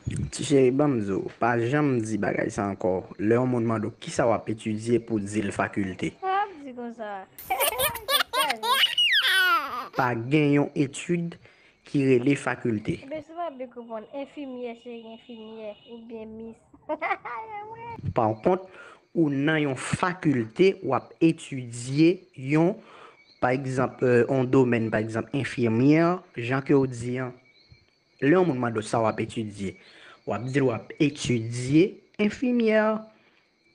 Ti cheri banm di w pa janm di bagay sa ankò lè yon moun mande w kisa wap etidye pou di l fakilte. Sa wap di konsa a eeh se saj. Pa gen yon etid ki rele fakilte. Ebyen si w pa big reponn enfimyè cheri enfimyè oubyen mis hahaha. Pa kont ou nan yon fakilte wap etidye yon pa egzanp yon domèn pa egzanp enfimyè jan ke w di an Lè yon moun mande w sa w ap etidye, w ap di l w ap etidye enfimyè.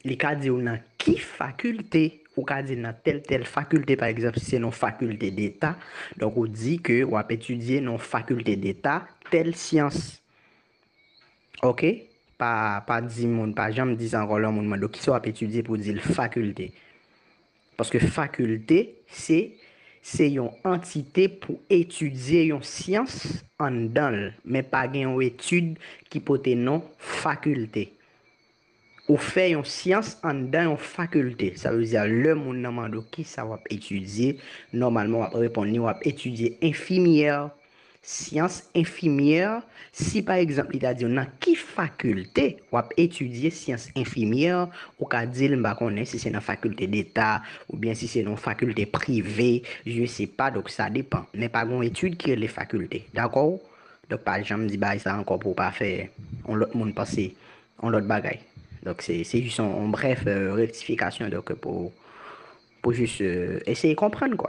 Li ka di w nan ki fakilte, ou ka di nan tèl tèl fakilte pa egzanp si se nan yon fakilte deta, donk ou di ke w ap etidye nan yon fakilte deta tèl syans. Oke, pa pa di moun, pa janm di sa ankò lè yon moun mande w kisa w ap etidye pou w di l fakilte. Paske fakilte se se yon antite pou etidye yon syans anndan l, men pa gen yon etid ki pote non fakilte. Ou fè yon syans anndan yon fakilte, sa vle di lè moun nan mande w kisa w ap etidye, nòmalman w ap reponn li w ap etidye enfimyè. Syans enfimyè, si pa egzanp li ta di w nan ki fakilte w ap etidye syans enfimyè, ou ka di l m pa konnen si se nan fakilte deta oubyen si se nan yon fakilte prive, je se pa donk sa depan. Men pa gen yon etid ki rele fakilte. Dakò? Donk pa janm di bagay sa ankò pou w pa fè yon lòt moun panse yon lòt bagay. Donk se se jis yon brèf rektifikasyon donk pou pou jis eseye konprann kwa.